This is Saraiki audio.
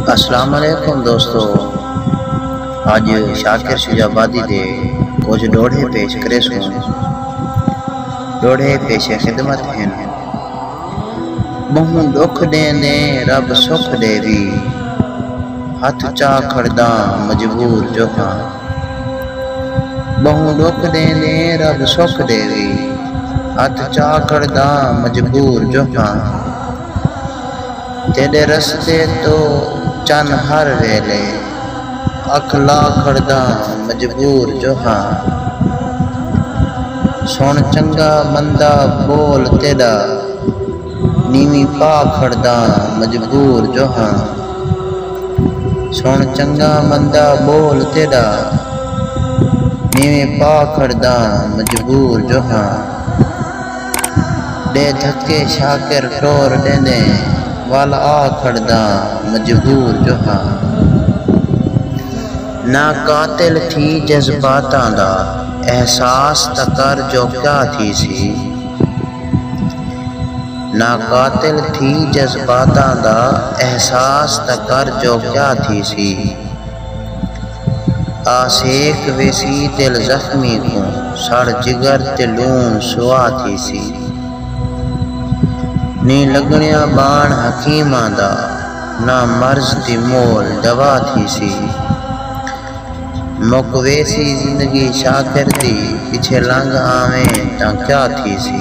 السلام علیکم دوستو اج شاکر شجاع آبادی دے کجھ ڈوہڑے پیش کریسوں ڈوہڑے پیش خدمت ہن مہوں ڈکھ ڈیں دیں رب سکھ ڈے وی ہتھ چا کھڑداں مجبور جو ہاں بہوں ڈکھ ڈیں دیں رب سکھ ڈے وی ہتھ چا کھڑداں مجبور جو ہاں تیݙے رستے توں چن ہر ویلے اکھ لا کھڑداں مجبور جو ہاں سݨ چنڳا مندا ٻول تیݙا نیویں پا کھڑداں مجبور جو ہاں سݨ چنڳا مندا ٻول تیݙا نیویں پا کھڑداں مجبور جو ہاں۔ ݙے دھکے شاکر ٹور ݙیندے ول آ کھڑداں مجبور جو ہاں نہ قاتل تھی جذباتاں دا احساس تاں کر جو کیا تھیسی نہ قاتل تھی جذباتاں دا احساس تاں کر جو کیا تھیسی۔ آسیک ویسی دل زخمی کوں سڑ جگر تے لون سوا تھیسی نی لگنیا بان حکیماں دا نہ مرض دی مول دوا تھیسی مک ویسی زندگی شاکر دی پچھے لنگھ آویں تاں کیا تھیسی۔